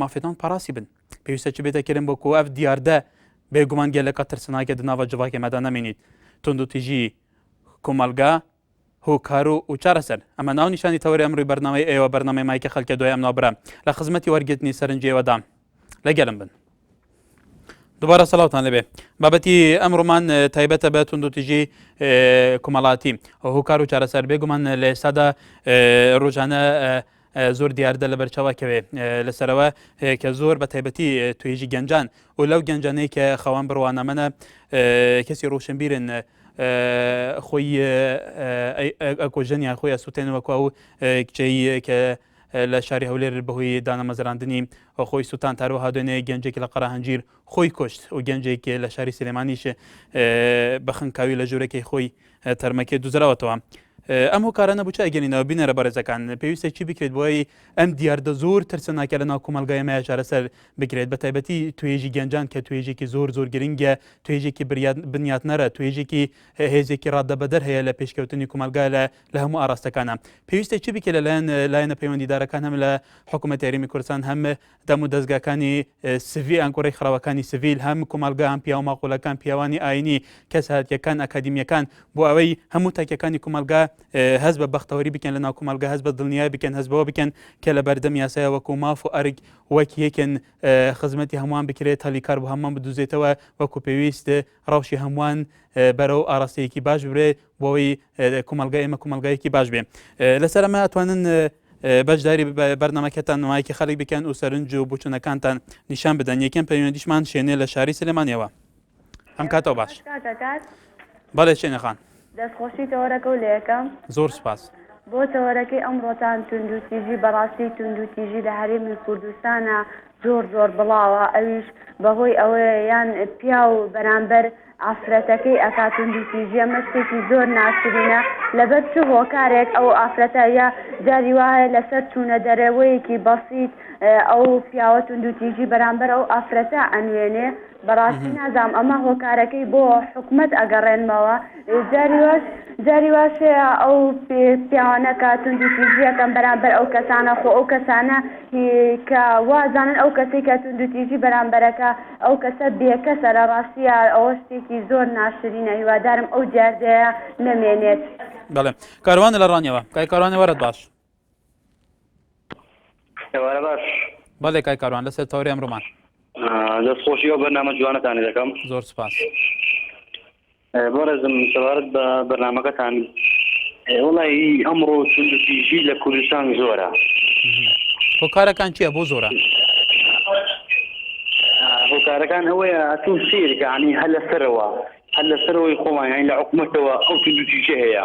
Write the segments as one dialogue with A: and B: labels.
A: مافێتان پاراسی بن پێویستە چ بێتە کرم بۆ کۆف دیاردە بێگومان گەلەکە ترسناکە دناوە جڤاکە مەدا نامێنیت تونند و تیژی کۆمەلگا هۆکار و و چارەسەر ئەمە ناو نیشانی تەوەری ئەمروی بەرنامەی ئێوە بەرنامەی مایکە خەلکە دوای ئەم ناوبرا لە خزمەتی وەرگرتنی سەرنجێوەدام لەگەلم بن دوبارە سەڵاوتان لەبێ بابەتی ئەمڕۆمان تایبەتە بە توندوتیژی کومەڵاتی هۆکار و چارەسەر بێگومان لە ئێستادا ڕۆژانە زۆر دیاردە لە بەرچاوکەوێ لەسەرەوە کە زۆر بە تایبەتی توێژی گەنجان و لەو گەنجانەی کە خەوان بڕوانەمەە کەسی ڕوشنبیرن خۆی ئەکۆژنیان خۆی ئەسووتێنەوە کو و کچەی کە لە شاری هەولێر بەهۆی دانەمەزراندنی خۆی سوتان تاروەها دوێنێ گەنجێک لە قەراهەنجیر خۆی کوشت و گەنجێک لە شاری سلێمانیش بە خنکاوی لە ژوورەکەی خۆی تەرمەکێ دوزراوەتەوە ئەم هۆکارانە بچ ئەگەنینەوە بینەرە بەڕێزەکان پێویستە چی بکرێت بۆی ئەم دیاردە زۆر ترسەناکە لە ناو کۆمەلگای مای چارەسەر بکرێت بە تایبەتی توێژی گەنجان کە توێژێکی زۆر زۆر گرنگە توێژێکی بنیاتنەرە توێژێکی هێزێکی ڕادەبەدەر هەیە لە پێشکەوتنی کۆمەلگا لە لە هەموو ئاراستەکانا پێویستە چی بکە لەلایەن لایەنە پەیوەندیدارەکان هەم لە حکوومەت یاریمی کوردستان هەم دەم و دەستگاکانی سڤی ئەنکۆڕی خراوەکانی سڤیل هەم کومەلگا هەم پیاو ماقولەکان پیاوانی ئاینی کەس هاتیەکان ئەکادیمیەکان بۆ ئەوەی هەموو تاکەکانی کومەلگا هەز بە بەختەوەری بکەن لە ناو کومەلگا هەز بە دڵنیای بکەن هەزبەوە بکەن کە لە بەردەم یاسای وەکو ماف و ئەرگ وەک یەکن خزمەتی هەمووان بکرێت هەلی کار بۆ هەمووان بدوزێتەوە وەکو پێویست ڕەوشی هەمووان بەرەو ئاڕاستەیەکی باش ببرێ بۆی کومەلگای ئێمە کومەلگایەکی باش بێ لەسەر ئەمە ئەتوانن بەشداری بەرنمەکەتان نمایکی خەڵک بکەن و سەرنج و بچونەکانتان نیشان بدەن یەکەم پەیوەندیشمان شێنێ لە شاری سلێمانیەوە ئەم کاتەوە باش بەڵێ شێنەخان دەست خۆشی تەوەرەکە
B: و لەیەکەم. زۆر سوپاس.
A: بۆ تەوەرەکەی
B: ئەمڕۆتان توندو تیژی بەڕاستی توندو تیژی لە هەرێمی کوردستانا زۆر زۆر بڵاوە ئەویش بەهۆی ئەوەیە یان پیاو بەرامبەر ئافرەتەکەی ئەکا توندو تیژی ئەمە شتێکی زۆر ناشرینە لەبەر چ هۆکارێک ئەو ئافرەتە یا جاری وا هەیە لەسەر چونە دەرەوەیەکی بەسیت ئەو پیاوە توندو تیژی بەرامبەر ئەو ئافرەتە ئەنوێنێ بەڕاستی نازام ئەمە هۆکارەکەی بۆ حکومەت ئەگەڕێنمەوە جاری واش جاری واشەیە ئەو پیاوانەکە توندی تیژیەکەم بەرامبەر ئەو کەسانە خۆ ئەو کەسانە کە وازانن ئەو کەسی کە توندو تیژی بەرامبەرەکە ئەو کەسە بێکەسە لە ڕاستیە ئەوە شتێکی زۆر ناشرینە هیوادارم ئەو دیاردەیە نەمێنێت. بەڵێ
A: کاروانە لە ڕانیەوە. کاک کاروان وەرت باش.
C: ئێوارە باش بەڵێ کای
A: کاروان لەسەر تەوری ئەمڕۆمان دەست خۆشی
C: ئەو بەرنامە جوانەتانی دەکەم زۆر سپاس بەڕێزم سەبارەت بە بەرنمەکەتان وڵی ئەمڕۆ توندژی لە کوردستان زۆرە
A: هۆکارەکان چیە بۆ زۆرە
C: هۆکارەکان ئەوەیە تو سیرگەعنی هەل لەسەرەوە هەل لەسەرەوەی خۆمان یانی لە حکوومەتەوە ئەو توندژی هەیە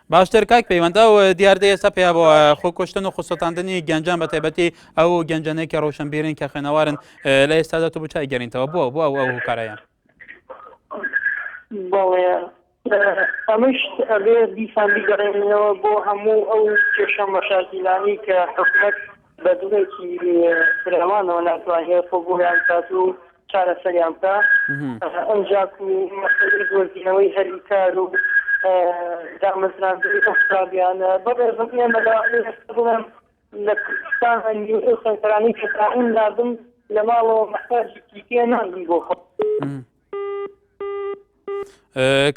D: باشتر کاک پەیوەند
A: ئەو دیاردەیە سە پێیا بۆ خۆکۆشتن و خسۆتاندنی گەنجان بە تایبەتی ئەو گەنجانەیە کە ڕۆشنبیرن کە خوێنەوارن لە ئێستادا تو بچای گەرینتەوە بۆ بۆ ئەو ئەو کارەیە بەڵێ ئەمەش ئەبێ دیسان بیگەڕێنەوە بۆ هەموو
D: ئەو کێشە مەشاکیلانی کە حکومەت بە جۆرێکی فراوانەوە ناتوانێت خۆ بۆیان کات و چارەسەریان بکا ئەنجاک و مەسەلەی دۆزینەوەی هەلی کار و دامەزراندنی ئەو قوتابیانە بەڕێزم ئێمە لە ئێستا بڵێم لە کوردستان هەنگی ئەو سەنتەرانەی کە تاعین نابن لە ماڵەوە مەحتاجێکی پێ نابن بۆ خۆ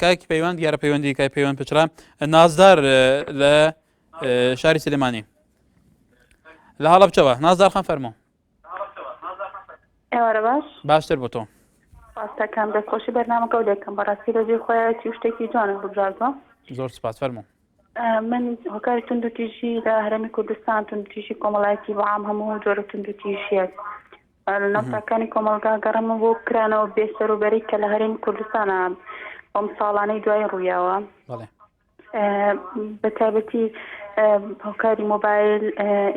A: کاکی پەیوەند دیارە پەیوەندی کای پەیوەند پچرا نازدار لە شاری سلێمانی لە هەڵە بچەوە نازدار خان فەرمۆ
E: ئێوارە باش باشتر بۆ تۆ
A: ڕاستەکان
E: دەستخۆشی بەرنامەکە و دەکەم بەڕاستی لەجێ خۆیەتی شتێکی جوانە ببژاتەوە زۆر سپاس فەرمو
A: من
E: هۆکاری تونند و تیژی لە هەرمی کوردستان تونند تیژی کۆمەڵایەتی بەعام هەموو جۆرە تونند و تیژیەک نەفتەکانی کۆمەلگا گەڕمە بۆ کرانەوە بێسەروبەری کە لە هەرێمی کوردستانە ئەم ساڵانەی دوای ڕوویاوە بە تایبەتی هۆکاری مۆبایل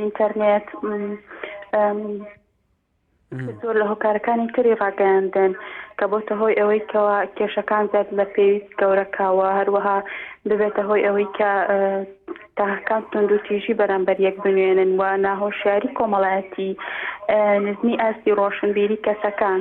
E: ئینتەرنێت زۆر لە هۆکارەکانی تری ڕاگەیاندن کە بۆتە هۆی ئەوەی کەەوە کێشەکان زیاد لە پێویست گەورەکەوە هەروەها ببێتە هۆی ئەوەی کە تاکان تونندوتیژی بەرامبەر یەک بنوێنن و ناهۆشیاری کۆمەڵایەتی نزمی ئاستی ڕۆشنبیری کەسەکان.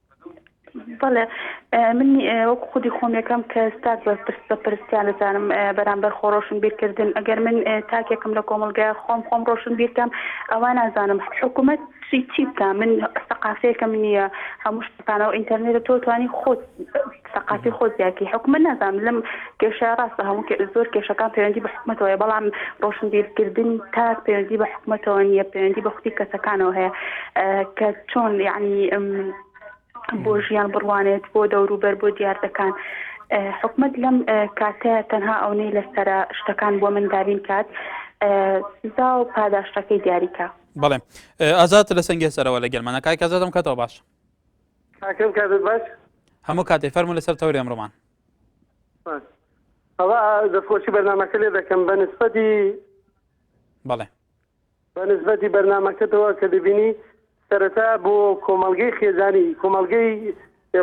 A: بەڵێ
E: من وەک خودی خۆم یەکەم کە ستاک بە پرس بە پرستیان دەزانم بەرامبەر خۆ ڕۆشن بیرکردن ئەگەر من تاکێکم لە کۆمەلگای خۆم خۆم ڕۆشن بیرکەم ئەوە نازانم حکوومەت چی چی بکە من سەقافەیەکەم نییە هەموو شتەکانەوە ئینتەرنێتە تۆ توانی خۆت سەقافی خۆ زیاتی حکومە نازانم لەم کێشە ڕاستە هەموو زۆر کێشەکان پەیوەندی بە حکومەتەوەی بەڵام ڕۆشنبیرکردنی تاک پەیوەندی بە حکومەتەوە نییە پەیوەندی بە خودی کەسەکانەوە هەیە کە چۆن یعنی بۆ ژیان بڕوانێت بۆ دەوروبەر بۆ دیاردەکان حکومت لەم کاتەیە تەنها ئەونەی لەسرە شتەکان بۆ من دابین کات سزا و پاداشتەکەی دیاریکە بەڵێ
A: ئازاد لە سنگێ سەرەوە لە گەرمانەکای کەزادم کەەوە باش کاکەم
D: کاتت باش. هەموو کاتێ
A: فەرموو لەسەر تەوری ئەمڕۆمان. سپاس.
D: ئەوە دەستخۆشی بەرنامەکە لێ دەکەم بە نسبەتی
A: بەڵێ بە نسبەتی
D: بەرنامەکەتەوە کە دەبینی سەرەتا بۆ کۆمەلگەی خێزانی کۆمەلگەی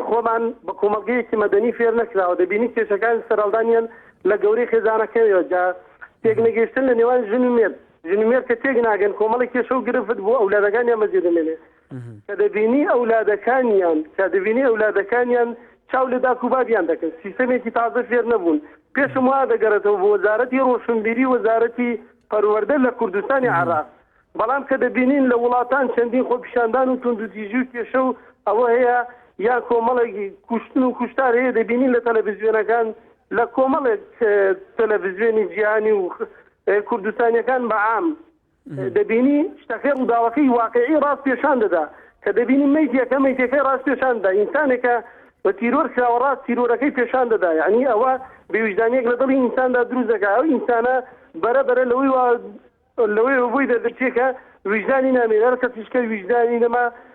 D: خۆمان بە کۆمەلگەیەکی مەدەنی فێر نەکراوە دەبینی کێشەکان سەرهەڵدانیان لە گەورەی خێزانەکەیەوە جا تێک نەگەیشتن لە نێوان ژن و مێرد ژن و مێرد کە تێک ناگەن کۆمەڵی کێشە و گرفت بۆ ئەولادەکانیان بەجێ دەمێنێت کە دەبینی ئەولادەکانیان کە دەبینی ئەولادەکانیان چاو لە داک و بابیان دەکەن سیستەمێکی تازە فێر نەبوون پێشم وا دەگەڕێتەوە بۆ وەزارەتی ڕۆشنبیری وەزارەتی پەروەردە لە کوردستانی عراق بەڵام کە دەبینین لە وڵاتان چەندین خۆپیشاندان و توندوتیژی و کێشە و ئەوە هەیە یا کۆمەڵێکی کوشتن و کوشتار هەیە دەبینین لە تەلەڤزیۆنەکان لە کۆمەڵێک تەلەڤزیۆنی جیهانی و کوردستانیەکان بەعام دەبینی شتەکەی ڕووداوەکەی واقعی ڕاست پێشان دەدا کە دەبینی میتەکە میتەکەی ڕاست پێشاندا ئینسانێکە بە تیرۆر کراوە ڕاست تیرۆرەکەی پێشان دەدا ینی ئەوە بێویژدانێک لە دڵی ئینساندا دروست دەکە ئەو ئینسانە بەرە بەرە لەوەی لەوەی بۆی دەردرچێکە ویژدانی نامێنەر کەسیشکە ویژدانی نەما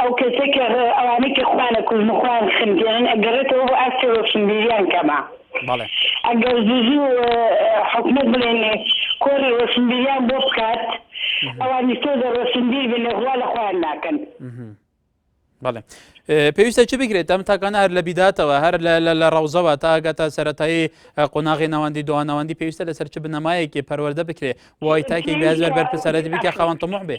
A: ئەو کەسەی کە ئەوانەی کە
B: خۆیان ئەکوژن و خۆیان خنکێنن ئەگەڕێتەوە بۆ ئاستی ڕۆشنبیریان
A: کەمە بەڵێ. ئەگەر
B: زوو زوو حکومەت بڵێن کۆڕی ڕۆشنبیریان بۆ بکات ئەوانیش تۆزێ ڕۆشنبیر بن غوا لە خۆیان ناکەن.
A: بەڵێ پێویستە چ بگرێت ئەم تاکانە هەر لە بیداتەوە هەر لە ڕەوزەوە تا ئەگاتە سەتایی قۆناغی ناوەندی دوانەوەندی پێویستە لەسەر چ بنەمایەکی پەروەەردە بکرێ وای تاکی بێزار بەرپسەرەتی بکە خاوەن تەمەح بێ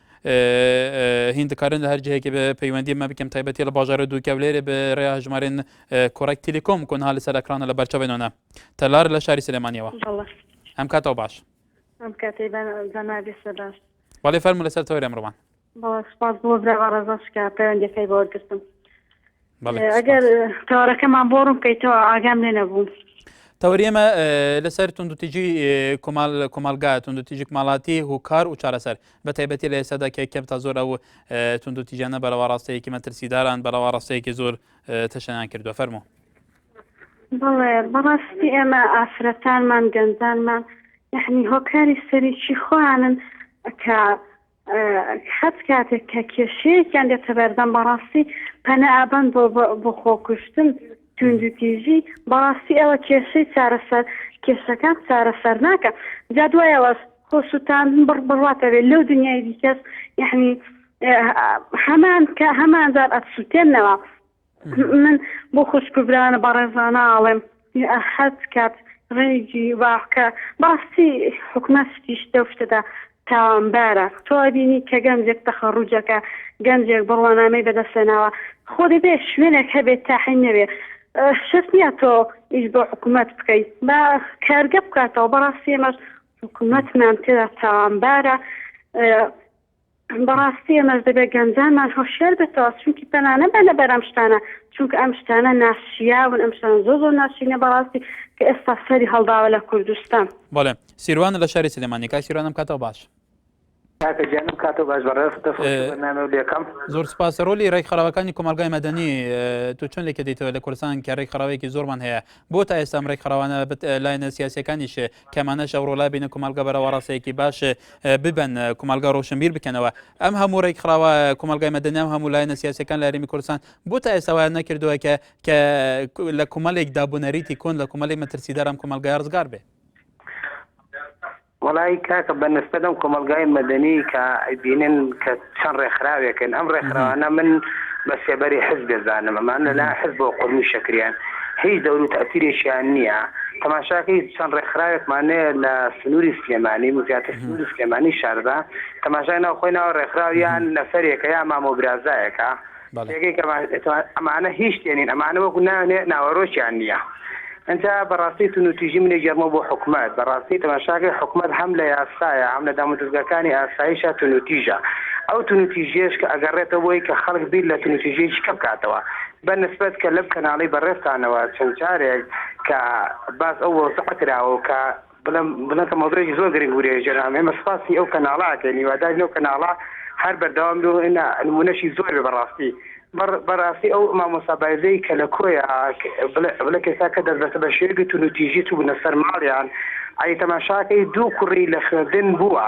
A: هین دکارن لە هەر جهێکی بە پەیوەندی مە بکەم تایبەتی لە باژارە دووکە لێرە بە ڕێ ژمارێن کۆڕێک تیلیکۆم کۆن هاە سەر ئەکرانە لە بەرچەبێنەوە تەلار لە شاری سلێمانیەوە ئەم کاتەوە باش ئەم
F: کاتی باش وڵێ فەرمو لەسەر
A: تۆرێ مرۆوان سپاس بۆ
F: برا ڕزا شکا پەیوەندەکەی بۆگرتم ئەگەر تەوارەکەمان بۆ ڕوون بکەیتەوە ئاگام لێ نەبوو. تەوەری ئێمە
A: لەسەر توندوتیجی کۆمال کۆمەلگا توندوتیجی ماڵاتی هوکار و چارەسەر بە تایبەتی لە ئێسادا کە کەم تا زۆر ئەو توندوتیجانە بەرەوە ڕاستەیەکی مەترسیداران بەرەوە ڕاستەیەکی زۆر تەشەیان کردوە فەرمو
F: بڵێ بەڕاستی ئێمە ئافرەتانمان گەنجانمان یعنی هۆکاری سەرێکی خۆیانن کە حەت کاتێک کە کێشەیەکیان دێتە بەردەم بەڕاستی پەنا ئەبەن بۆ بۆ خۆکوشتن توندوتیژی بەڕاستی ئەوە کێشەی چارەسەر کێشەکان چارەسەر ناکە جا دوایەوەش خۆسووتان بڕ بڕاتەوێت لەو دنیای دیکەس یعنی هەمان کە هەمانجار ئەتسووتێنەوە من بۆ خوشک و برایانە بەڕێزانە ئاڵێم حەز کات ڕێگی واکە بەڕاستی حکومە شتیش دەو شتەدا تاوانبارە تۆ بینی کە گەنجێک تەخەڕوجەکە گەنجێک بڕوانامەی بەدەستێناوە خۆ دەبێ شوێنێک هەبێت تاحی نەوێ شت نییە تۆ ئیش بۆ حکوومەت بکەیت بە کارگە بکاتەوە بەڕاستی ئێمەش حکوومەتمان تێدا تاوانبارە بەڕاستی ئێمەش دەبێت گەنجانمان هۆشیار بێتەوە چونکی پەنا نەبەنە بەر ئەم شتانە چونکە ئەم شتانە ناشیاون ئەم شتانە زۆر زۆر ناشرینە بەڕاستی کە ئێستا سەری هەڵداوە لە کوردستان. بەڵێ سیروان
A: لە شاری سلێمانی کاک سیروان ئەم کاتەو باش. کاکە
G: گیان ئەم کاتەو باش بەڕێز دەست خۆش بۆ بەرنامەو لێکەم. زۆر سوپاس
A: رۆلی رێکخراوەکانی کۆمەڵگای مەدەنی تۆ چۆن لێکدەیتەوە لە کوردستان کە رێکخراوەیەکی زۆرمان هەیە بۆ تا ئێستا ئەم ڕێکخراوانە بت لایەنە سیاسیەکانیش کەمانەش ئەوڕۆ لابینە کومەڵگە بەرەوە ڕاستەیەکی باش ببەن کومەڵگە ڕۆشنبیر بکەنەوە ئەم هەموو ڕێکخراوە کومەڵگای مەدەنی ئەم هەموو لایەنە سیاسەکان لە هەرێمی کوردستان بۆ تا ئێستا وایان نەکردووە کە کە لە کومەلێک دابونەریتی کۆن لە کومەلی مەترسیدار ئەم کومەلگای ڕزگار بێ
G: وەڵایی کاکە بە نسبەت ئەم کۆمەڵگای مەدەنی کە ئەیبینن کە چەند ڕێکخراوێکن ئەم ڕێکخراوانە من بە سێبەری حزب دەزانم ئەمان لەلایەن حزبەوە قورمی شەکریان هیچ دەور و تەئسیرێکیان نییە تەماشاکەی چەند ڕێکخراوێکمانێ لە سنووری سلێمانی زیاتر سنووری سلێمانی شاردا تەماشای ناو خۆی ناوە ڕێکخراویان نەفەرێکە یا مامۆ برازایەکە پێگەی گەمار ئێتوان ئەمانە هیچ شتێ نین ئەمانە وەکو نانێ ناوەرۆکیان نییە ئنجا بەڕاستی تونوتیژی منێ گێڕمەوە بۆ حکومەت بەڕاستی تەماشاکەی حکومەت هەم لە یاسایە هەم لە دامودەزگاکانی ئاسایشە تونوتیژە ئەو تونوتیژیەش کە ئەگەڕێتە بۆی کە خەڵک بیر لە تونوتیژیەکی کە بکاتەوە بە نسبەت کە لەم کەناڵی بەڕێزتانەوە چەند جارێک کە باس ئەو وەزعە کراوە و کە بڵێم بڵێم کە مەوزوعێکی زۆر گرنگ وورێ جەنابم ئێمە سپاسی ئەو کەناڵە ئەکەین هیوادارین ئەو کەناڵە هەر بەردەوام بێ و ئێنە نموونەشی زۆر بێ بەڕاستی بەڕ بەڕاستی ئەو مامۆستا بایزەی کە لە کۆیە بڵێ بڵێ کێسا کە دەربەسە بە شێوەیەکی تونوتیژی چووبوونە سەر ماڵیان ئەی تەماشاکەی دوو کوڕی لە خوێندن بووە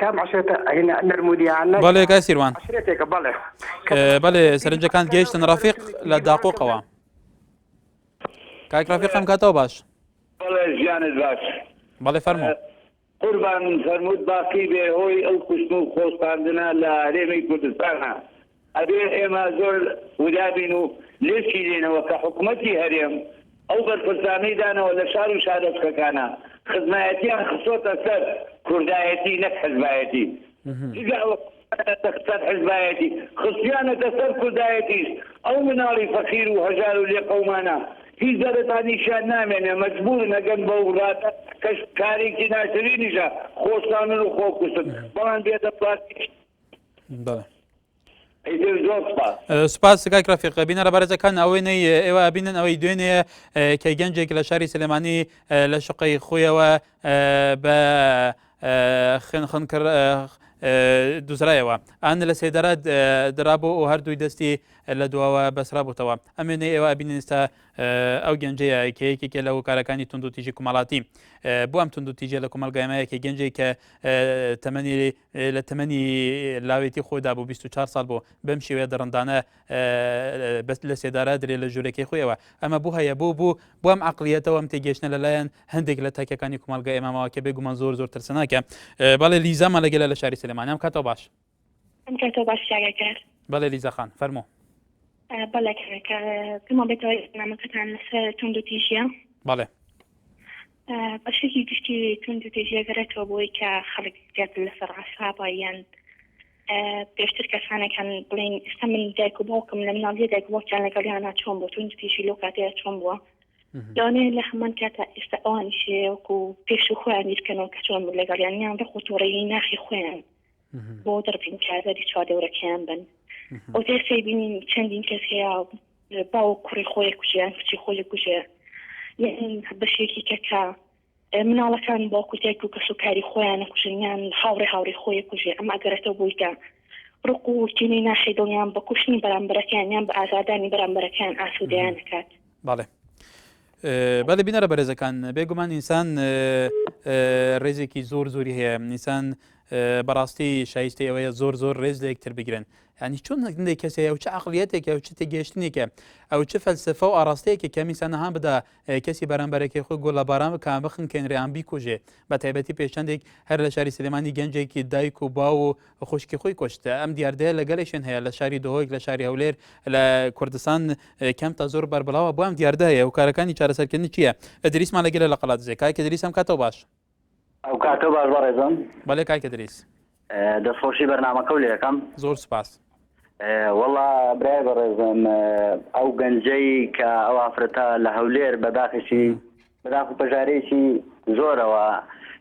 G: کام عشرێتە نەرمودیانە بەڵێ کای سیروان
A: عشرێتێکە
G: بەڵێ بەڵێ
A: سەرنجەکان گەیشتن ڕافق لە داقۆقەوە کاک ڕافق ئەم کاتەوە باش بەڵێ ژیانت باش
H: بەڵێ فەرمۆ
A: قوربان
H: فەرمووت باقی بێ هۆی ئەو کوشتن و خۆستاندنە لە هەرێمی کوردستانە ئەبێ ئێمە زۆر ووریا بین و لێشیرێینەوە کە حکومەتی هەرێم ئەو بەرپرسانەی دانەوە لە شار و شارۆچکەکانە خزمایەتیان خستۆتە سەر کوردایەتی نەک حزبایەتی جگە ئەوە خستیانەتە سەر حزبایەتی خستیانەتە سەر کوردایەتیش ئەو مناڵی فەقیر و هەژار و لێقەومانە هیچ دەرەتانیشیان نامێنێ مەجبورن ئەگەن بەو ڕاتە کەش کارێکی ناشرینیشە خۆشتانن و خۆکوشتن بەڵام بێدەسڵاتیش
A: سوپاس سکاک ڕفیق بینەرە بەرزەکان ئەوەی نەی ئێوە ئەبینن ئەوەی دوێنێ کە گەنجێک لە شاری سلێمانی لە شقەی خۆیەوە بە خوێنخن کرد دوزرایەوە ئەن لە سێدارە درابوو و هەردووی دەستی لە دواوە بەسرا بووتەوە ئەمێنێ ئێوە بینیستا ئەو گەنجەیە کە یەکێکە لە هۆکارەکانی تونند و تیژی کومەڵاتی بۆ ئەم تونند و تیژە لە کومەلگایمەیەکی گەنجێک کە تەمەنی لە تەمەنی لاوێتی خۆیدا بۆ بیست و چوار ساڵ بوو، بەم شێوەیە دڕندانە لە سێدارە درێ لە ژوورەکەی خۆیەوە. ئەمە بۆ هەیە بۆ بوو، بۆ ئەم عەقڵیەتەوە ئەم تێگەیشتنە لەلایەن هەندێک لە تاکەکانی کومەڵگای ئێمە ماوە، کە بێگومان زۆر زۆر ترسناکە. بەڵێ لیزامان لەگەلە لە شاری سلێمانی. ئەم کاتەو باش. ئەم کاتەو باش چاگەکار. بەڵێ لیزا خان، فەرموو. بەڵێ کاکە، پێمان
I: بێتەوە نامەکەتان لەسەر توندوتیژییە. بەڵێ. بەشێکی گشتی توندوتیژی دەگەڕێتەوە بۆی کە خەڵک زیاتر لەسەر عسابە یان پێشتر کەسانێک هەن بڵین ئستا من دایک و باوکم لە مناڵی دایک باوکیان لەگەڵیانە چۆن بۆ توندتیژی لۆ کاتەیە چۆن بووە لەوانەیە لە هەمان کاتە ئێستا ئەوانیشەیەوەکو پێش و خۆیان بیرکەنەوە کە چۆن بوو لەگەڵیان یان ڕق و تۆڕەیی ناخی خۆیان بۆ دەربڕین کاربەری چواردەورەکەیان بن ئەو دێسەی بینین چەندین کەس هەیە باوە کوڕی خۆی کوژیان کچی خۆی کوژێ بەشێکی کەکە مناڵەکان بۆ کوتێک و کەس و کاری خۆیانە کوژنیان هاوڕێ هاوڕێ خۆی کوژێ ئەم ئەگەرەتە بوویکە ڕق و کینی ناخی دڵیان بە کوشتنی بەرامبەرەکەیان یان بە ئازادانی بەرامبەرەکەیان ئاسوودەیان نکات بەڵێ
A: بەێ بینەرە بەرێزەکان بێگومان ئینسان ڕێزێکی زۆر زۆری هەیە نیسان بەڕاستی شایستی ئەوەیە زۆر زۆر ڕێز لە یەکتر بگرن ینی چۆن نەکردی کەسێ ئەو چ عقلیەتێکە و چ تێگەشتنێکە ئەو چ فەلسفە و ئاراستەیەکی کەمیسانەها بدا کەسی بەرامبەرەکەی خۆی گۆ لە باران بکە بخن کەنریان بیکوژێ بە تایبەتی پێشەندێک هەر لە شاری سلێمانی گەنجێکی دایک و باو و و خوشکی خۆی کوشت. ئەم دیاردەیە لە گەلێکشوێن هەیە لە شاری دهۆک لە شاری هەولێر لە کوردستان کەمتە زۆر بەربڵاوە بۆ ئەم دیاردە هەیە و کارەکانی چارەسەرکردنی چیە؟ ئەدریسمان لە گەلە لە قەڵادزێ کاک ئەدریس ئەم کاتەو باش. ئەو کاتەو
J: باش بەڕێزم. بەلێ کاک ئەدریس.
A: دەست خۆشی
J: بەرنامەکەو لێ ئەکەم. زۆر سوپاس.
A: وەڵا
J: برای بەڕێزم ئەو گەنجەی کە ئەو ئافرەتە لە هەولێر بە داخیشی بەداخو پەژارەیەکی زۆرەوە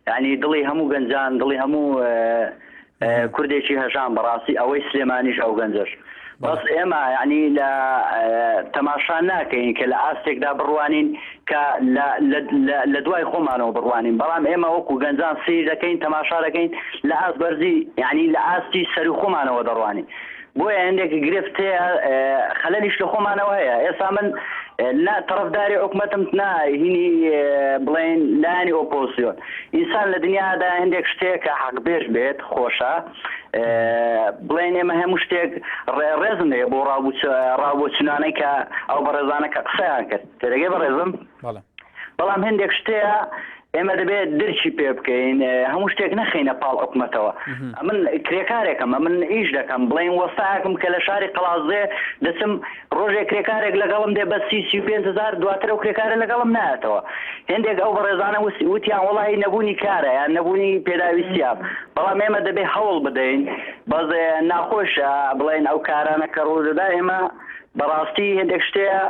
J: یانی دڵی هەموو گەنجان دڵی هەموو کوردێکی هەژان بەڕاستی ئەوەی سلێمانیش ئەو گەنجەش بەس ئێمە یعنی لە تەماشا ناکەین کە لە ئاستێکدا بڕوانین کە لە دوای خۆمانەوە بڕوانین بەڵام ئێمە وەکو گەنجان سیر دەکەین تەماشا دەکەین لە ئاست بەرزی یعنی لە ئاستی سەر خۆمانەوە دەڕوانین بۆیە هەندێک گرفت هەیە خەلەلیش لە خۆمانەوە هەیە ئێسا من نا تەڕەفداری حکومەتم نا هینی بڵێن لانی ئۆپۆزیۆن ئینسان لە دنیادا هەندێک شتێک کە حەق بێش بێت خۆشە بڵێن ئێمە هەموو شتێک ڕێزم لێ بۆ ڕاوچنانەی کە ئەو بەڕێزانە کە قسەیان کرد تێدەگەی بەڕێزم بەڵام هەندێک شتەیە ئێمە دەبێت درکی پێ بکەین هەموو شتێک نەخینە پاڵ حکومەتەوە من کرێکارێکەمە من ئیش دەکەم بڵێن وەستاکم کە لە شاری قەڵازێ دەچم ڕۆژێ کرێکارێک لەگەڵم دێ بە سی سی پێهزار دواتر و کرێکارە لەگەڵم ناتەوە هندێک ئەو بەڕێزانە وتیان وڵی نەبوونی کارە یان نەبوونی پێداویستیاب بەڵام ئێمە دەبێ هەوڵ بدەین بەز ناخۆشە بڵێن ئەو کارانە کە ڕوو دەدا ئێمە بەڕاستی هندێک شتەیە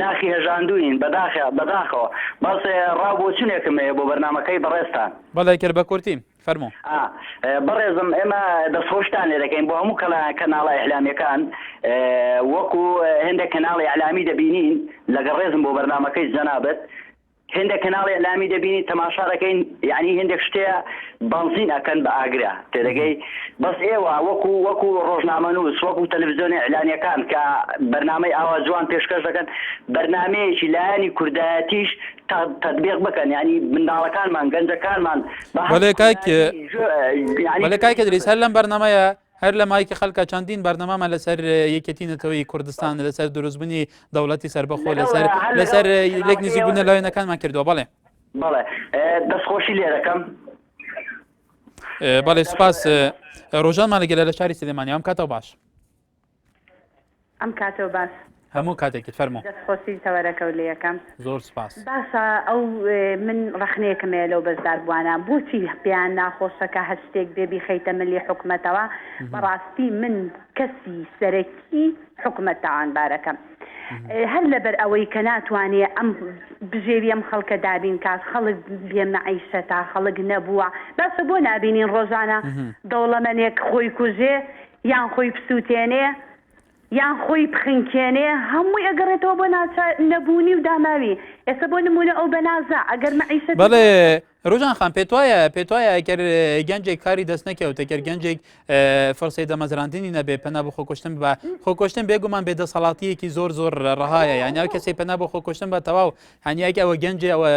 J: ناخی هەژاندووین بەداخە بەداخەوە بەس ڕاو بۆچونێکم هەیە بۆ بەرنامەکەی بەڕێزتان. بەڵێ کرد بە کورتی
A: فەرموو. ئا بەڕێزم
J: ئێمە دەستخۆشتان لێ دەکەین بۆ هەموو کەلا کەناڵە ئیعلامیەکان وەکو هێندێک کەناڵی ئیعلامی دەبینین لەگەڵ ڕێزم بۆ بەرنامەکەی جەنابت هێندێک کەناڵی ئیلامی دەبینین تەماشا دەکەین یعنی هێندێک شتەیە بەنزین ئەکەن بە ئاگرە تێدەگەی بەس ئێوە وەکو وەکو ڕۆژنامە نووس وەکو تەلەڤزیۆنی ئیلانیەکان کە بەرنمەی ئاوا جوان پێشکەش دەکەن بەرنمەیەکی لایەنی کوردایەتیش تەبیق بکەن ینی منداڵەکانمان گەنجەکانمان
A: بەڵێ کاکە دریس هەر لەم بەرنمەیە هەر لە مایکی خەلکە چەندین بەرنەمامە لەسەر یەکێتی نەتەوەی کوردستان لەسەر دروستبنی دەوڵەتی سربەخۆ لەسەر لەسەر لێک نزیک بوونە لایەنەکانمان کردووە بەڵێ بەڵێ
J: دەستخۆشی لێرەکەم
A: بەڵێ سپاس ڕۆژانمان لەگەلە لە شاری سلێمانی ئەم کاتەوە باش
B: ئەم کاتەو باس. هەموو کاتێکت
A: فەرموو. دەست خۆشی تەوەرەکەو
B: لەیەکەم. زۆر سوپاس. باشە
A: ئەو
B: من ڕەخنەیەکم هەیە لەو بەژدار بوانە بۆچی پێیان ناخۆشە کە هەر شتێک بێ بیخەیتە ملی حکومەتەوە بەڕاستی من کەسی سەرەکی حکومەت تاوانبارەکەم هەر لەبەر ئەوەی کە ناتوانێ ئەم بژێوی ئەم خەڵکە دابین کات خەڵک بێ مەعیشە تا خەڵک نەبووە باشە بۆ نابینین ڕۆژانە دەوڵەمەنێک خۆی کوژێ یان خۆی بسووتێنێ، یان خۆی بخنکێنێ، هەمووی ئەگەڕێتەوە بۆ ناچا نەبوونی و داماوی. ئێستا بۆ نموونە ئەو بەنازە، ئەگەر مەعیشەتی بەڵێ، بۆ.
A: روژان خان، پێتوایە، پێتوایە ئەگەر گەنجێک کاری دەست نەکەوت، ئەگەر گەنجێک فرسەی دامەزراندنی نەبێ، پەنا بۆ خۆکوشتن ببا، خۆکوشتن بێگومان بێ دەسەڵاتییەکی زۆر زۆر رەهایە، یانی ئەو کەسەی پەنا بۆ خۆکوشتن ببا تەواو، یانی ئەگەر ئەوە گەنجێ ئەوە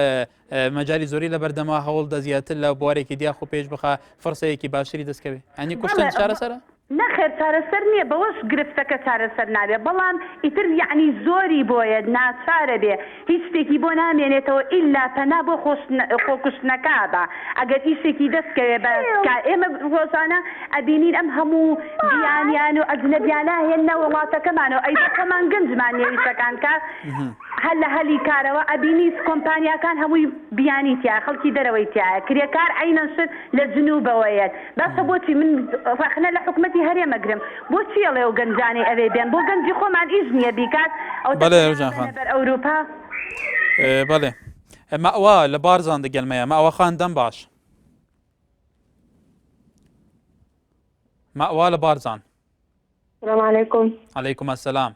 A: مەجالی زۆری لە بەردەما هەوڵ دە زیاتر لە بوارێکی دیاخ و پێش بخە فرسەیەکی باشتری دەستکەوێت ئەنی کوشتن چارەسەرە نەخێر چارەسەر
B: نییە بەوەش گرفتەکە چارەسەر نابێ بەڵام ئیتر یەعنی زۆری بۆیە ناچارە بێ هیچ شتێکی بۆ نامێنێتەوە ئیلا پەنا بۆ خۆکوشتنەکە با ئەگەر ئیشێکی دەستکەوێ بە کار ئێمە ڕۆژانە ئەبینین ئەم هەموو بیانیان و ئەجنەبیانە هێنە وڵاتەکەمانەوە ئەی خۆمان گەنجمان نیە ئیشەکان کە هەر لە هەلی کارەوە ئەبینی کۆمپانیاکان هەمووی بیانی تیایە خەڵکی دەرەوەی تیایە کرێکار عەینەن شت لە جنوبەوە یەت باشە بۆچی من ڕەخنە لە حکومەتی هەرێم ئەگرم بۆچی ئەڵێ ئەو گەنجانەی ئەوێ بێن بۆ گەنجی خۆمان ئیش نیە بیکات ئەو بەڵێ ڕوجان خان بەر ئەوروپا.
A: بەڵێ مەئوا لە بارزان دگەل مەیە مەئوا خان دەم باش مەئوا لە بارزان. سلام
K: علیکم. علیکم السلام.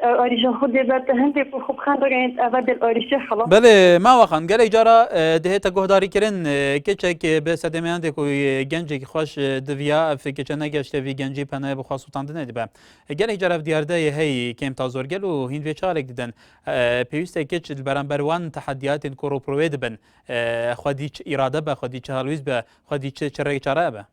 K: ئاریشە خو دێ بەر تە هەندێ کو خوب خان رگەێنت ئەڤە دەل ئاریشە خڵە. بەێ ماوە خان
A: گەلێک جارا دهێتە گوهداری کرن کچێک بێ سەدێمیان دێک و گەنجێکی خوش دڤیا ئەف کچە نەگەشتێ وی گەنجی پەنایە بخوا سوڵتان دنێ دبە گەلێک جارا ئەف دیاردە یە هەی کێم تا زۆر گەل و هین وێ چالێک ددن پێویستە کچ بەرامبەر وان تەحەدیاتێن کۆڕ و پرۆێ دبن خودی چ ئیرادە بە خودی چ هەڵویست بە خودی چ چ ڕێک چارە بە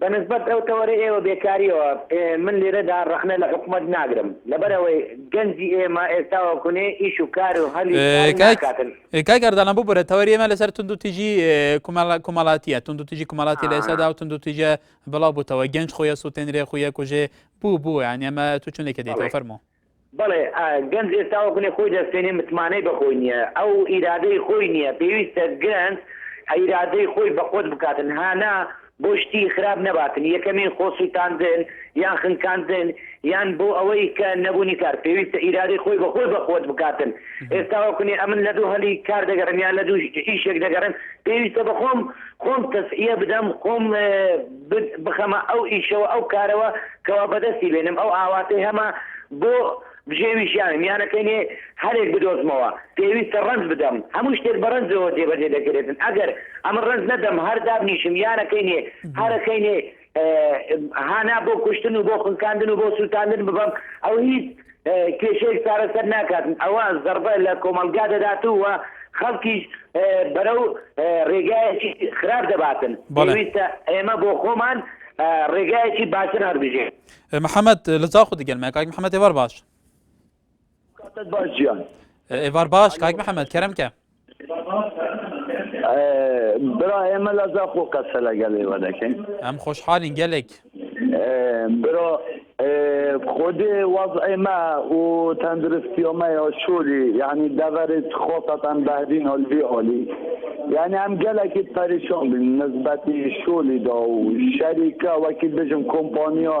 A: بە نسبەت
H: ئەو تەوەرەی ئێوە بێکاریەوە من لێرەدا ڕەخنە لە حکومەت ناگرم لەبەر ئەوەی گەنجی ئێمە ئێستا وەکونێ ئیش و کار و هەلی کار ناکاتن. کاک
A: ئەردەڵان ببورە تەوەری ئێمە لەسەر تونند و تیژی کومەڵاتیە تونند و تیژی کومەڵاتی لە ئێسادا و تونند و تیژە بڵاو بووتەوە گەنج خۆیە سووتێنرێ خۆیە کوژێ بوو بوو یان ئێمە تو چونێکە دێتەوە فەرموو. بەڵێ
H: گەنج ئێستا وەکو لێ خۆی دەستێنێ متمانەی بەخۆی نیە ئەو ئیرادەی خۆی نیە پێویستە گەنج ئیرادەی خۆی بەقوەت بکاتن هانا بۆ شتی خراپ نەباتن یەکەمین خۆ سوتاندن یان خنکاندن یان بۆ ئەوەی کە نەبوونی کار پێویستە ئیرادەی خۆی بەخۆی بەقوەت بکاتن ئێستا وەکونێ ئەمن لە دوو هەلی کار دەگەڕم یان لە دوو ئیشێک دەگەڕم پێویستە بەخۆم خۆم تەسیە بدەم خۆم بخەمە ئەو ئیشەوە ئەو کارەوە کەوا بەدەستی بێنم ئەو ئاواتەی هەمە بۆ بژێوی ژیانم یانەکەی نێ هەلێک بدۆزمەوە پێویستە ڕەنج بدەم هەموو شتێک بە ڕەنجەوە جێبەجێ دەکرێتن ئەگەر ئەمە ڕەنج نەدەم هەر دابنیشم یانەکەی نێ هەرەکەی نێ هانا بۆ کوشتن و بۆ خنکاندن و بۆ سووتاندن ببەم ئەو هیچ کێشەیەک چارەسەر ناکات ئەوە زەڕبە لە کۆمەڵگا دەدات و خەڵکیش بەرەو ڕێگایەکی خراپ دەباتن پێویستە ئێمە بۆ خۆمان ڕێگایەکی باشتر هەڵبژێ محەممەد
A: لە زاخۆ دەگەلمە کاک محەممەد تێوار باش باش ئێوار باش کاک محەممەد کەرم کە
L: برا ئێمە لە زاخۆ قەسە لەگەڵ ئێوە دەکەین ئەم خۆشحالین
A: گەلێک
L: برا خۆدێ واز ئێمە و تەندروستی ئەمە یا شوری یعنی دەبەرێت خۆتان بەهدین هەلبی عالی یعنی ئەم گەلێکی پەریشان بین نسبەتی شولی دا و شەریکە وەکی بژم کۆمپانیا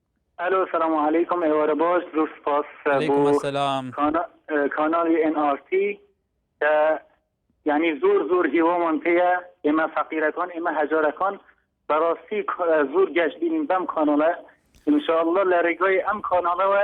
A: ئەلۆ سلام
M: علیکم ئێوارە باش زۆر سوپاس بۆ
A: کانالی
M: ئێن ئارتی کە یعنی زۆر زۆر هیوامان پێە ئێمە فەقیرەکان ئێمە هەجارەکان بەڕاستی زۆر گەشت بینین بەم کانالە انشاءله لە ڕێگای ئەم کانالەوە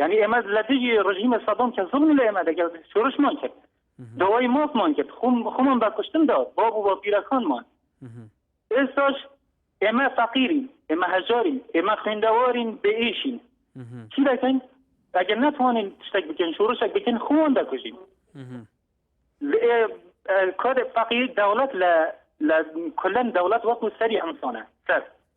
M: یعنی ئێمە لە دژی ڕژیمە سەدەم کە زڵمی لە ئێمە دەگەڵ شورشمان کرد دەوای مۆفمان کرد خۆم خۆمان بە کوشتن دا بۆ بوو بە پیرەکانمان ئێستاش ئێمە فەقیرین ئێمە هەژارین ئێمە خوێندەوارین بێ ئیشین چی دەکەین ئەگەر ناتوانین شتێک بکەین شورشێک بکەین خۆمان دەکوژین کۆدێک فەقیر دەوڵەت لە لە کلەن دەوڵەت وەکو سەری ئەمسانە سەر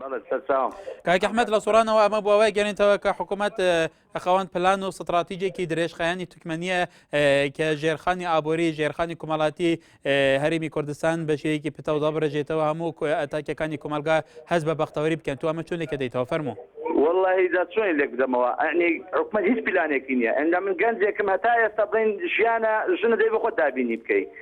A: بەڵێ
L: سەرچاوم. کاک ئەحمەد لە
A: سۆرانەوە ئەمە بۆ وای گەێنێتەوە کە حکوومەت خاوەن پلان و ستراتیجێکی درێژخایانی تکمەنیە کە ژێرخانی ئابووری ژێرخانی کومەڵاتی هەرمی کوردستان بە شێوەیەکی پتەودا بڕێژێتەوە هەموو ئەتاکەکانی کومەلگا هەز بە بەختەوەری بکەن تو ئەمە چونێکە دەیتەوە فەرمو واللهی دا
L: چۆن لێک بدەمەوە ئەنی حکومە هیچ پیلانێکی نییە ئەندا من گەنجێکم هەتا ئێستا بڵین ژیانە ژنە دەی بخۆ دابینی بکەیت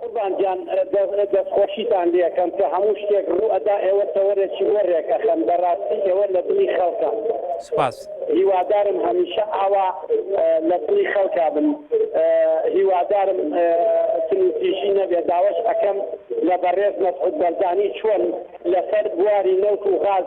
A: قوربان
N: گیان دەستخۆشیتان لێکەم کە هەموو شتێک ڕوو ئەدا ئێوە تەوەرێکی وە رێک ئەخەن بەراستی ئێوە لە دڵی خەڵکان سوپاس.
A: هیوادارم
N: هەمیشە ئاوا لە دڵی خەڵکا بن هیوادارم تنوتیژی نەبێ داواش ئەکەم لە بەڕێز مەسعود بەرزانی چۆن لەسەر بواری نەوت و غاز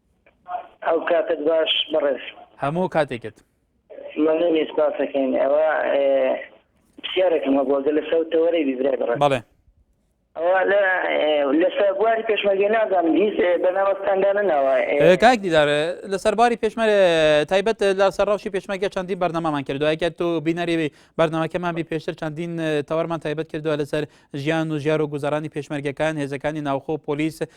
O: هەو کاتت باش بەڕێز. هەموو کاتێکت.
A: مەمنونی سپاسەکەین
O: ئەوە پرسیارێکم هەبووە گەلە سەوتە وەرەی بیبرای بڕێ بەڵێ لەسەر بواری پێشمەرگە نازانم هیچ بەنامەستاندانە ناوە کاک دیدار
A: لەسەر باری پێشمەرە تایبەت لە سەر ڕەوشی پێشمەرگە چەندین بەرنامەمان کردو ئەگە تۆ بینەری بەرنمەکەمان بی پێشتر چەندین تەوەرمان تایبەت کردووە لەسەر ژیان و ژیار و گوزارانی پێشمەرگەکان هێزەکانی ناوخۆ پۆلیس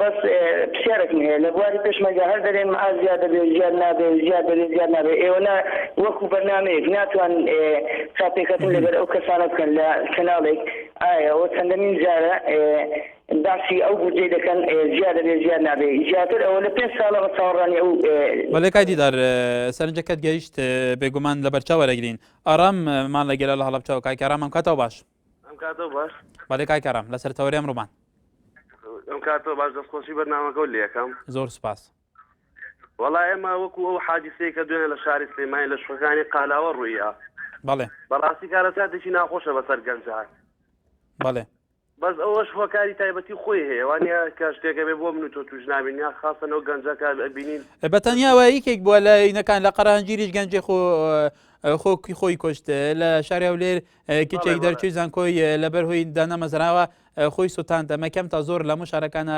O: بەس پسیارەکم هەیە لە بواری پێشمەرگە هەر دەرێن مەعاش زیاد دەبێ زیاد نابێ زیاد دەبێ زیاد نابێ ئێوە نا وەکو بەرنامەیەک ناتوان چاپێکەتن لەگەر ئەو کەسانە بکەن لە کەناڵێک ئایا ئەوە چەندەمین جارە باسی ئەو بودجەی دەکەن زیاد دەبێ زیاد نابێ زیاتر ئەوە لە پێنج ساڵە بە چاوەڕانی ئەو بەڵێ کای دیدار
A: سەرنجەکەت گەیشت بێگومان لە بەرچاو وەرەگرین ئارام مان لەگەرە لە هەڵبچەوە کاکە ئارام ئەم کاتەوە باش ئەم کاتەوە باش
P: بەڵێ کاک ئارام لەسەر
A: تەوەرێم ڕوومان ئەم
P: کاتەوە باش دەستخۆشی بەرنامەکە و لەکەم زۆر سپاس
A: وەڵا
P: ئێمە وەکو ئەو حادیسەیە کە دوێن لە شاری سلێمانی لە شوەکانی قالاوە ڕوویە بەڵێ
A: بەڕاستی کارە
P: ساتێکی ناخۆشە بەسەر گەنجان بەڵێ
A: بەس
P: ئەوەش هۆکاری تایبەتی خۆی هەیە وانە کە شتێکە بێ بۆ من و تۆ توش نابین یا خاستەنەوە گەنجەکە بینین بەتەنیاوە یەکێک
A: بووە لە یینەکان لە قەرهنجیریش گەنجێ خۆ خۆکی خۆی کوشت لە شاری هەولێر کچێک دەرچووی زانکۆی لەبەر هۆی دانەمەزراوە خۆی سووتاند ئەمە کەم تا زۆر لە مو شارەکانە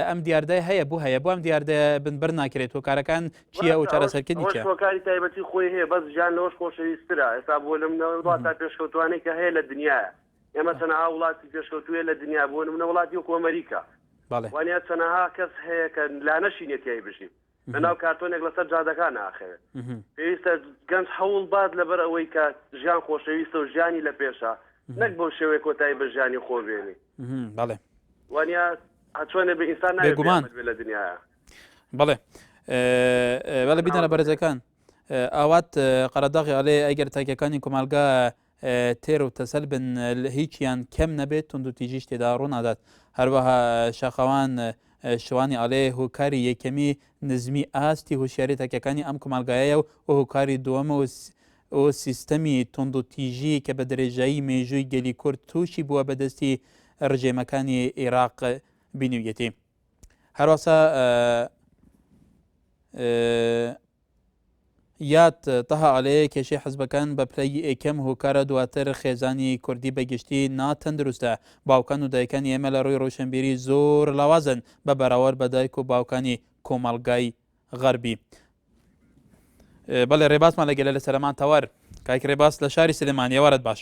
A: ئەم دیاردە هەیە بۆ هەیە بۆم دیاردە بنبەر ناکرێت و کارەکان چیە و چارەسەرکردنی کاری تایبەتی خۆی
P: هەیە بەس ژیان لەوەش خۆشەویسترا ئێستا بۆ لەم نەوەڵات تا پێشکەوتوانەی کە هەیە لە دنیاە ئێمە تەنها وڵاتی پێشکەوتوێ لە دنیا بوون منە وڵاتی وەکۆمەریکا وانە چەنەها کەس هەیە کە لا نەشینێتیای بژین لە ناو کارتۆنێک لەسەر جادەکان ئاخەوێت پێویستە گەنج هەوڵ بات لەبەر ئەوەی کە ژیان خۆشەویستە و ژیانی لە پێشە نەک بۆ شێوەیە کۆتایی بە ژیانی خۆ بێنی بەڵێ
A: وانە
P: هەچۆنێ بە ئینسان ناگومان لە دنیاە بەڵێ
A: بەڵێ بیدانە بەرزەکان ئاوات قەرەداغی ئەلێ ئەگەر تاکەکانی کۆمەلگا تێر و تەسەل بن هیچیان کەم نەبێت توندوتیژیش تێدا ڕوونادات هەروەها شاخەوان شوانی ئەڵێ هۆکاری یەکەمی نزمی ئاستی هوشیاری تاکەکانی ئەم کومەڵگایە و هۆکاری دووەمە و ئەو سیستەمی تۆند و تیژی کە بە درێژایی مێژووی گەلی کورد تووشی بووە بەدەستی ڕژێمەکانی عێراق بینویەتی هەروەسا یاد تەها ئەلێ کێشەی حزبەکان بە پلەی ئێکەم هۆکارە دواتر خێزانی کوردی بە گشتی نا تەندروستە باوکان و دایکانی ئێمە لە ڕووی ڕوشنبیری زۆر لاوازن بە بەراوەر بە دایک و باوکانی کۆمەڵگای غەربی بەڵێ ڕێباسمان لە گەلە لە سەرمان تەوەر کاک ڕێباس لە شاری سلێمانی ئێوارەت باش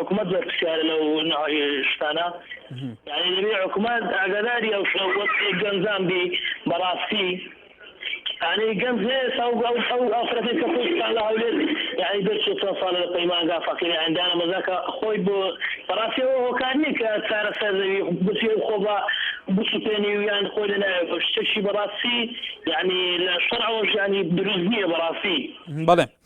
Q: حکومەت بەرپسیارە لەو شتانە حکومەت ئاگاداری ئەو گەنجان بی بەڕاستی ئەی گەنج ئافرەتی کە خۆشتان لە هەولێت یعنی دەرچێ چەند ساڵە لە پەیمانگا فەقیری ئەندانە مەزاکە خۆی بۆ بەڕاستیەوە هۆکار نیە کە چارە سەردەوی بچێ و خۆ بە بسوپێنی و یان خۆی لە ناوێ بە شتێکی بەڕاستی یعنی لە شەرعەوەش یعنی دروست نییە بەڕاستی بەڵێ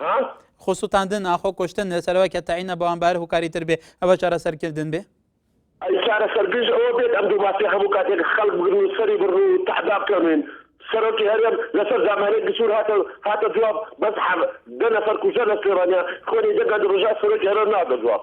A: ها؟ خۆ سوتاندن ئاخۆ کوشتن لە سەرەوە کە تەعینە بەوان بار هوکاری تر بێ ئەوە چارەسەرکردن بێ ئەی چارەسەر
R: گژ ئەوە بێت ئەم دوو مافیا هەموو کاتێک خەڵک بگرن و سەری بڕن و تەعدا بکەنێن سەرۆکی هەرێم لەسەر دامانەی گچور هاتە هاتە جواب بەس حەب دە نەفەر کوژە لە سلێمانیا خوێنی دە گەنج ڕژا سەرۆکی هەرێم نادە جواب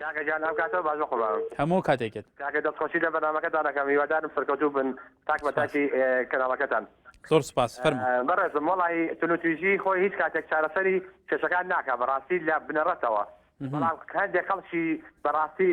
A: کاکە گیان ئەم
S: کاتە باش بەقوربان. هەموو کاتێکت. کاکە
A: دەست خۆشی لە
S: بەرنامەکەتان ئەکەم هیوادارم سەرکەوتوو بن تاک بە تاکی کەناڵەکەتان. زۆر سوپاس
A: فەرموو. بەڕێزم وەڵاهی
S: تونوتویژی خۆی هیچ کاتێک چارەسەری کێشەکان ناکا بەڕاستی لە بنەڕەتەوە بەڵام هەندێک خەڵکی بەڕاستی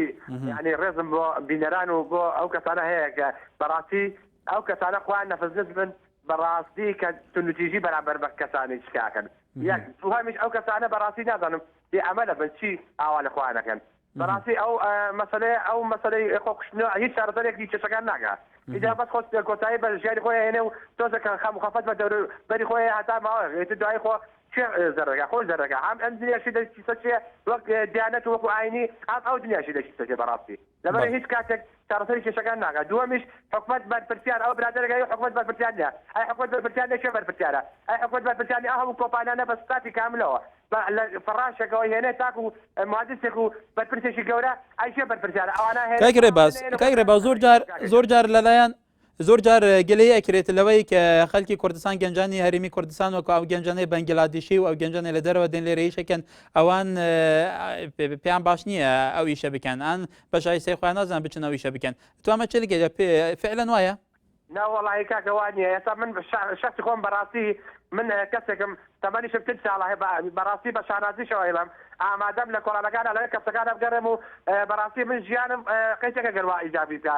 S: یانی ڕێزم بۆ بینەران و بۆ ئەو کەسانە هەیە کە بەڕاستی ئەو کەسانە خۆیان نەفزنج بن بەڕاستی کە تونوتیژی بەرامبەر بە کەسانیش کاکەن یەک دووهەمیش ئەو کەسانە بەڕاستی نازانم بێ ئەمەلە بن چی ئاوا لە خۆیان ئەکەن بەڕاستی ئەو مەسەلەیە ئەو مەسەلەی خۆ کوشتنەوە هیچ چارەسەرێکی کێشەکان ناکا ئیدە بەس خۆ کۆتایی بە ژیانی خۆی ئەهێنێ و تۆزێ کە خەم و خەفەت بە دەورو بەری خۆی هەیە هەتا ماوەیەک ئیتر دوایی خۆ کێ زەرەگا خۆی زەرەگا هەم ئەم دنیاشی دەچی سەر چیە وەک دیانەت و وەکو ئاینی هەم ئەو دنیاشی دەچی سەر چیە بەڕاستی لەبەرئ هیچ کاتێک چارەسەری کێشەکان ناکات دووەمیش حکومەت بەرپرسیار ئەوە برادەرێک ئەی حکومەت بەرپرسیار نیە ئەی حکومەت بەرپرسیار نیە کێ بەرپرسیارە ئەی حکومەت بەرپرسیار نیە ئەو هەموو کۆمپانیانە بە ستافی کاملەوە بە لە فەڕاشێکەوە هێنێ تاکو مهندسێک و بەرپرسێکی گەورە ئەی کێ بەرپرسیارە ئەوانە هێنێ کاک رێباز کاک
A: رێباز زۆر جار زۆر جار لەلایەن زۆر جار گلەی ئەکرێت لەوەی کە خەلکی کوردستان گەنجانی هەرمی کوردستان وەکو ئەو گەنجانەی بەنگلادیشی و ئەو گەنجانە لە دەرەوە دێن لێرەیشەکەن ئەوان پێیان باش نییە ئەو ئیشە بکەن ئەن بەشای سێخوایان نازان بچن ئەو ئیشە بکەن توامە چ لەگەێ فعلەن وایە ناوەڵی
S: کاکەوانە ئێستا من شخصی خۆم بەڕاستی من کەسێکم تەمەنیشم پێ ساڵە هەیە بەڕاستی بە شانازیشەوە ئێڵم ئامادەم لە کۆڵانەکان لە کەسەکان ئەبگەڕێم و بەڕاستی من ژیانم قەیتەکە گەروا ئیجابی بکە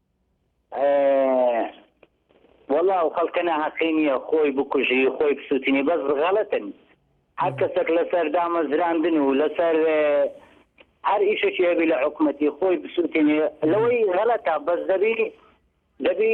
C: وەڵا ئەو خەڵکە ناهەقی نیە خۆی بکوژی خۆی بسوتینی بەس غەڵەتن هەر کەسەک لەسەر دامەزراندن و لەسەر هەر ئیشێکی هەبی لە حکومەتی خۆی بسوتینی لەوەی غەڵەتە بەس دەبی دەبی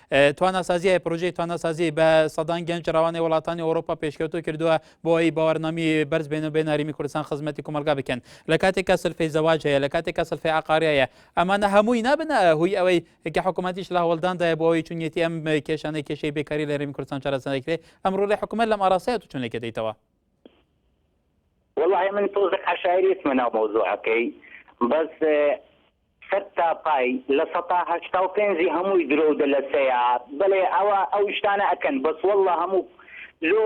A: تواناسازیی پرۆژەی تواناسازی بە سەدان گەنج ڕەوانەی وڵاتانی ئەوروپا پێشکەوتو کردووە بۆ ئەوەی باوەڕنامی بەرز بێن و بێن هەرێمی کوردستان خزمەتی کۆمەڵگا بکەن لە کاتێک کە سلفی زەواج هەیە لە کاتێک کە سلفی عقاری هەیە ئەمانە هەمووی نابن هوی ئەوەی کە حکوومەتیش لە هەوڵداندایە بۆ ئەوەی چونیەتی ئەم کێشانەی کێشەی بێکاری لە هەرێمی کوردستان چارەسەر نەکرێت ئەمڕۆ لە حکوومەت لەم ئاراستەیە تو چونێکە دەیتەوە والله من تۆزێک عشایرێتمە ناو
C: مەوزوعەکەی بەس سەد تا پای لە سەتا هەشتا و پێنج ی هەمووی درۆو دەلەسەیە بەلێ ئەوە ئەو شتانە ئەکەن بەس واللە هەموو لۆ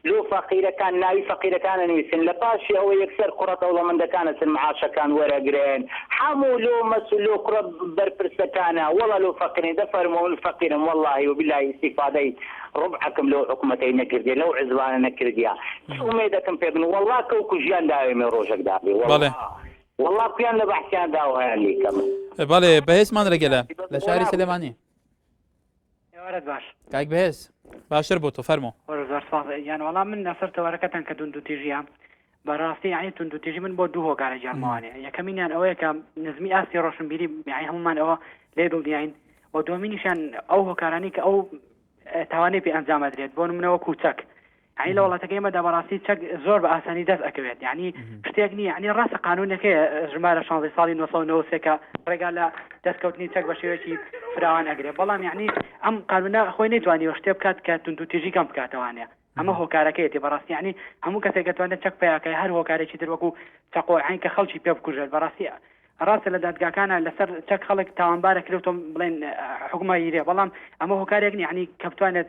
C: لۆ فەقیرەکان ناوی فەقیرەکان ئەنویسن لە پاشی ئەوە یەکسەر کوڕە دەوڵەمەندەکان ئەچن معاشەکان وەرەگرن حەموو لۆ مەسول لۆ کوڕە بەرپرسەکانە وەڵا لۆ فەقیرن دە فەرموو من فەقیرم واللەهی و بیلاهی ئیستیفادەی ڕوبعەکم لەو حکومەتەی نەکردیە لەو عزبانە نەکردیە چ ئومێدەکم پێ بن واللە کەو کوژیان داوێمێ ڕۆژەک دابێ واللە. وەڵا کویان لە بەحسیان دا وایان لێ کەمە. بەڵێ بەهێز
A: مانرە گەلە لە شاری سلێمانی
T: ئێوارەت باش کاک بەهێز
A: باشتر بۆ تۆ فەرمۆ زۆر سپاس یان
T: وەڵام من لەسەر تەوارەکەتان کە دون دوتیژیان بەڕاستی یعنی تون دوتیژی من بۆ دوو هۆکارە جارمانێ یەکەمینیان ئەوەیە کە نزمی ئاستی ڕۆشنبیری یعنی هەمومان ئەوە لێ دڵنیاین و دومینیشان ئەو هۆکارانی کە ئەو تاوانەی پێ ئەنجامەدرێت بۆ منەوە کوچەک یانی لە وڵاتەکە ئێمەدا بەڕاستی چەک زۆر بە ئاسانی دەست ئەکەوێت یعنی شتێک نییە ینی ڕاستە قانونەکەی ژمارە شانزی ساڵی 1990ەکە ڕێگا لە دەستکەوتنی چەک بە شێوەیەکی فراوان ئەگرێ بەڵام یعنی ئەم قانونە خۆی نەیتوانیوە شتێ بکات کە توندوتیژی کەم بکاتەوانێ ئەمە هۆکارەکەیەتی بەڕاستی ینی هەموو کەسێک گەتوانێت چەک پیاکە هەر هۆکارێکی دروەکو چەقۆعین کە خەڵکی پێ بکوژێت بەڕاستیە ڕاستە لە دادگاکانە لەسەر چەک خەڵک تاوانبارە کرێتۆم بڵێن حکومە هیرێ بەڵام ئەمە هۆکارێک نیعنی کە بتوانێت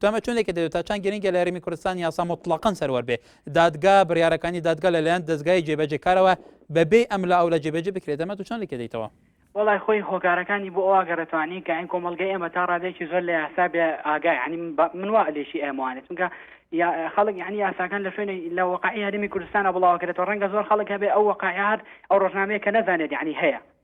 A: تۆمە چۆن لەکە دەێت تا چند گرنگە لە هەرێمی کوردستان یاسا مطلقا سەروەر بێ دادگا بڕارەکانی دادگا لەلایەن دەستگای جێبەجێکارەوە بەبێ ئەم لە ئەو لە جێبەجێ بکرێت دەمە تو چۆن لەکە دەیتەوە وەڵای خۆی
T: هۆکارەکانی بۆ ئەوە گەڕێتوانی کە ئەین کۆمەڵگەی ئێمە تا ڕادێکی زۆر لە یاسا بێ ئاگای عنی من وا لێشی ئێمەوانێت چونکە یا خەڵک یعنی یاساکان لە شوێنی لە وەقعی هەرمی کوردستانە بڵاوکرێتەوە ڕەنگە زۆر خەڵک هەبێ ئەو وەقعیار ئەو ڕۆژنامەیە کە نەزانێت یعنی هەیە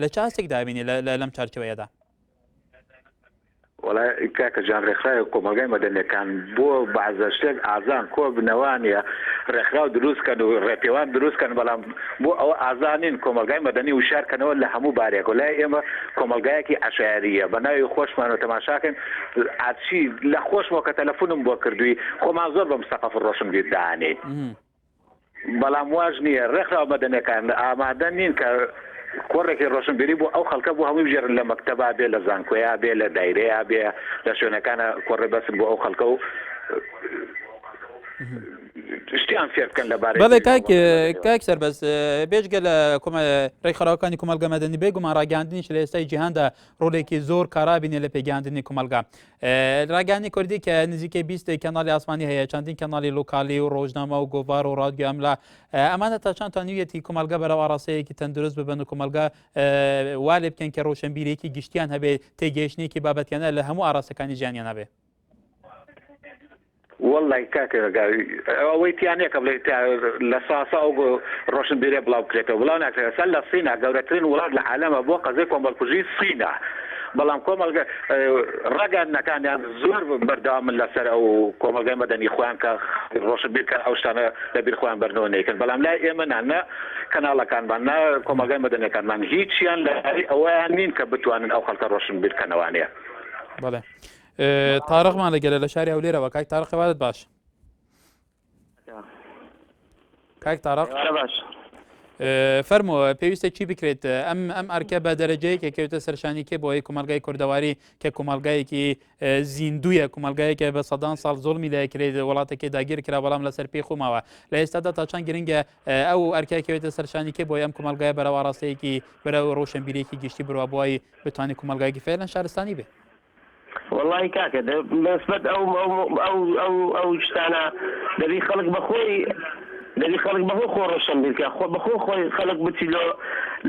A: لە چ ئاستێک دابینی لەم چارچەوەیەدا؟
D: وڵا کاکە جان ڕێکخراوی کۆمەلگای مەدەنەکان بۆ بازە شتێک ئازان کۆ بنەوانە ڕێکخراو دروستکەن و ڕێپێوان دروستکەن بەڵام بۆ ئەو ئازانین کۆمەلگای مەدەنی وشارکەنەوە لە هەموو بارێک و لای ئێمە کۆمەلگایەکی عشاریە بە ناوی خۆشمان و تەماشاکەن ئاچی لە خۆشمەوە کە تەلەفونم بۆ کردووی خۆمان زۆر بەم سەقف ڕۆشنبیردانین. بەڵام واش نییە ڕێکخراوە مەدەنیەکان ئامادە نین کە کۆڕێکی ڕۆشنبیری بۆ ئەو خەڵکە بۆ هەمووی بژێرن لە مەکتەبا بێ لە زانکۆیا بێ لە دایرەیە بێ لە شوێنەکانە کۆڕێ بەسن بۆ ئەو خەڵکە و شتیان فێر بکەن لە بارەی بەڵێ کاک
A: کاک سەربەز بێژگە لە ڕێکخراوەکانی کومەلگە مەدەنی بێ گومان ڕاگەاندنیش لە ئێستای جیهاندا ڕۆلێکی زۆر کارابینێ لە پێگەاندنی کومەلگا ڕاگانی کوردی کە نزیکەی بیست کەناڵی ئاسمانی هەیە چەندین کەناڵی لوکالی و ڕۆژنامە و گۆڤار و ڕادگە ئەملا ئەمانە تا چند توانیویەتی کۆمەلگە بەرە ئاراستەیەکی تەندروست ببن و کۆمەلگە والێ بکەن کە ڕۆشنبیرێکی گشتیان هەبێ تێگەیشتێکی بابەتیانە لە هەموو ئاراستەکانی ژیانیان هەبێ
D: وەللە ی کاکە گا ئەوەی تیا نیە کە بڵێی تا لە ساسە ئەو گۆ ڕۆشنبیرە بڵاو بکرێتەوە بڵاو ناکرێت ئەسەن لە سینە گەورەترین وڵات لە عالەمە بۆ قەزەی کۆمەڵکوژی سینە بەڵام کۆمەڵگە ڕاگەیاندنەکانیان زۆر بەردەوامن لەسەر ئەو کۆمەڵگای مەدەنی خۆیان کە ڕۆشنبیر کە ئەو شتانە لە بیر خۆیان بەرنەوە نەیکەن بەڵام لای ئێمە نا نە کەناڵەکانمان نا کۆمەڵگای مەدەنیەکانمان هیچیان لە ئەوەیان نین کە بتوانن ئەو خەڵکە ڕۆشنبیر کەنەوانێ. بەڵێ.
A: تارەقمان لەگەلە لە شاری هەولێرەوە کاک تارەق خەوارت باش کاک تارەق باش فەرمۆ پێویستە چی بکرێت ئەم ئەم ئەرکە بە دەرەجەیەکە کەوتە سەرشانی کێ بۆی کومەلگای کوردەواری کە کومەلگایەکی زیندویە کومەلگایەکە بە سەدان ساڵ زۆڵمی لای کرێت وڵاتەکە داگیر کرا بەڵام لەسەر پێی خۆماوە لە ئێستادا تا چەند گرنگە ئەو ئەرکەکەوێتە سەرشانی کێ بۆی ئەم کومەلگای بەرەوە ڕاستەیەکی بەرە ڕۆشنبیرێکی گشتی بروە بۆی بتوانانی کومەلگایکی فێلەن شارستانی بێت وەڵایی
Q: کاکە دە بەسبەت ئەو ئەو ئەو ئەو ئەو شتانە دەبی خەڵک بەخۆی دەبی خەڵک بەخۆی خۆ ڕۆشن بیرکە خۆ بەخۆ خۆی خەڵک بچی لۆ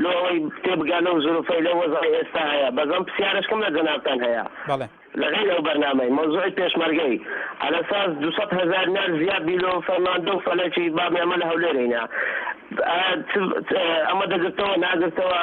Q: لۆ ئەوەی تێبگا لەو زروفەی لە وەزای ئێستا هەیە بەزەم پرسیارشکم لە جەنابتان هەیە بەڵێ لەغیر
A: ئەو بەرنامەی
Q: مەوزوعی پێشمەرگەی ئەلەساس دو هزار نار زیاد بی لۆ فەرماندە و فەلەکی بابێ ئەمە لە هەولێرینە ئەمە دەگرتەوە ناگرتەوە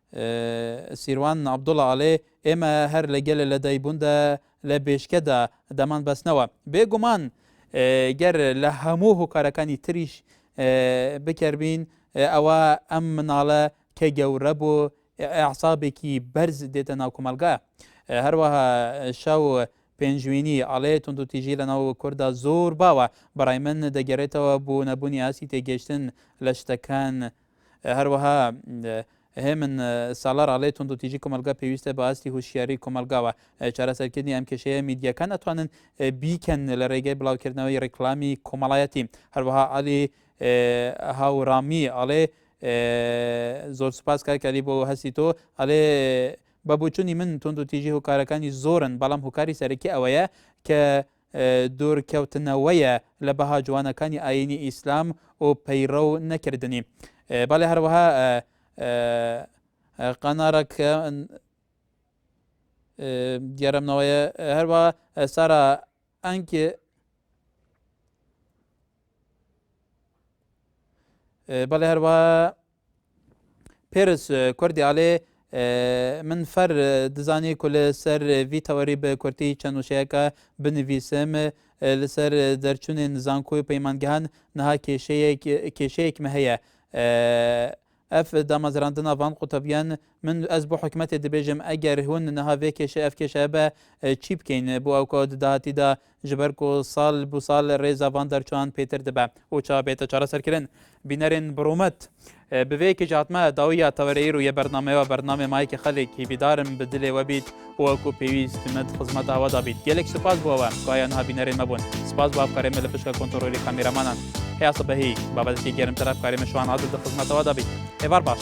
A: سیروان عەبدوڵا ئەڵێ، ئێمە هەر لە گەلە لەدایکبووندا لە بێشکەدا دەمان بەستنەوە. بێ گومان گەر لە هەموو هۆکارەکانی تریش بکەر بین، ئەوا ئەم مناڵە کە گەورە بوو ئەعسابێکی بەرز دێتە ناو کۆمەڵگا. هەروەها شاو پێنجوینی ئەڵێ توندوتیژی لە ناو کوردا زۆر باوە بەڕای من دەگەرێتەوە بۆ نەبوونی ئاسی تێگەشتن لە شتەکان هەروەها هێمن سالار ئەڵێ توندوتیژی کۆمەلگا پێویستە بە ئاستی هوشیاری کۆمەلگاوە چارەسەرکردنی ئەم کێشەیە میدیەکان ئەتوانن بیکەن لە ڕێگەی بڵاوکردنەوەی ڕیکلامی کۆمەڵایەتی هەروەها علی هاورامی ئەڵێ زۆر سپاس کاکەلی بۆ هەستی تۆ ئەلێ بە بچووی من تونند و تیژی هۆکارەکانی زۆرن بەڵام هۆکاری سەرەکی ئەوەیە کە دوورکەوتنەوەیە لە بەها جوانەکانی ئایینی ئیسلام و پەیڕەو نەکردنی. بەڵێ هەروەها قەنارەکە دیارەمنەوەیە هەروە سارا ئەنگ بەڵێ هەروە پێرس کوردی ئاڵێ من فەر دزانی کو لەسەر ڤی تەوەری بە کورتی چەند وشەیەکە بنویسم لەسەر دەرچوونێن زانکۆی پەیمانگەهان نها کێشەیەک کێشەیەکمە هەیە ئەف دامەزراندن ناوان قوتەبیان من ئەس بۆ حکومەتێ دەبێژم ئەگەر هون نها vێ کێشە ئەف کێشە بە چی بکەین بۆ ئەو کۆ داهاتیدا جی بەر کو سال بو سال رێزا ڤان دەر چوان پێتر دبە و چا بێتە چارە سەر کرن بینەرێن بڕومەت بە ێە کێ جاتمە داوی یا تەوەرەی رو یە بەرنامە وە بەرنامە مای کە خە لێکی بیدارم بە دلێ وە بیت و کو پێویست مت خزمەت ئاوە دا بیت گەلێک سوپاس بوە وە کایا نها بینەرێن مە بون سوپاس بوە بکارێ مە لە پشکە کۆنتڕۆلی کامێرامانان هێا سە بە هی بە بە دکی گێرم تەرا بکارێ مە شوان عادل دە خزمەتە وە دا بیت هێوار باش